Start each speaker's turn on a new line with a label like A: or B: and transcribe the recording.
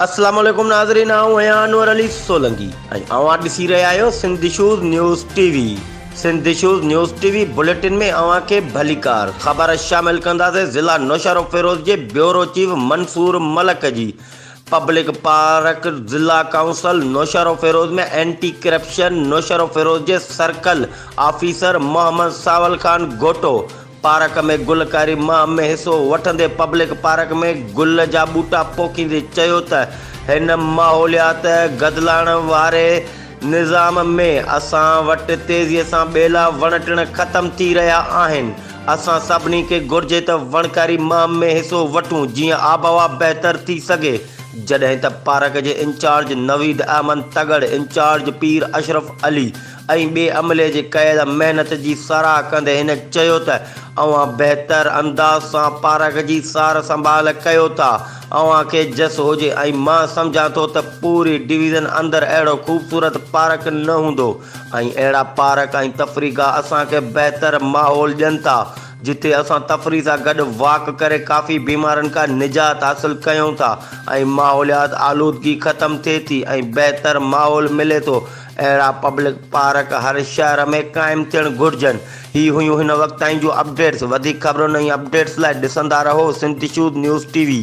A: السلام عليڪم ناظرين آئون آهيان انور علي سولنگي ۽ اوهان ڏسي رهيا آهيو Sindh shows news T V Sindh shows news T V bulletin ۾ اوهان کي ڀليڪار خبر شامل ڪنداسين ضلع نوشهرو فيروز جي بيورو چيف منصور ملڪ جي پبلڪ پارڪ ضلع council Naushahro Feroze ۾ anti corruption Naushahro Feroze جي circle officer Muhammad Sanwal Khan Ghoto park ۾ گلڪاري مهم ۾ حصو وٺندي پبلڪ پارڪ ۾ گل جا ٻوٽا پوکيندي چيو ته هن ماحوليات گدلاڻ واري نظام ۾ اسان وٽ تيزي سان ٻيلا وڻ ٽڻ ختم ٿي رهيا آهن، اسان سڀني کي گهرجي ته وڻڪاري مهم ۾ حصو وٺون جيئن آبهوا بهتر ٿي سگهي، جڏهن ته پارڪ جي انچارج نويد احمد تڳڙ، انچارج پير اشرف علي ۽ ٻئي عملي جي ڪيل محنت جي ساراهه ڪندي هن چيو ته اوهان بهتر انداز سان پارڪ جي سار سنڀال ڪيو ٿا، اوهان کي جس هجي ۽ مان سمجهان ٿو ته پوري ڊويزن اندر اهڙو خوبصورت پارڪ نه هوندو ۽ اهڙا پارڪ ۽ تفريح گاهه اسان کي بهتر ماحول ڏين ٿا جتي اسان تفريح سان گڏ واڪ ڪري ڪافي بيمارين کان نجات حاصل ڪيون ٿا ۽ ماحوليات آلودگي ختم ٿئي ٿي ۽ بهتر ماحول ملي ٿو اهڙا پبلڪ پارڪ هر شهر ۾ قائم ٿيڻ گهرجن هي هيون هن وقت تائين جون اپڊيٽس وڌيڪ خبرن ۽ اپڊيٽس لاء ڏسندا رهو Sindh shows news T V.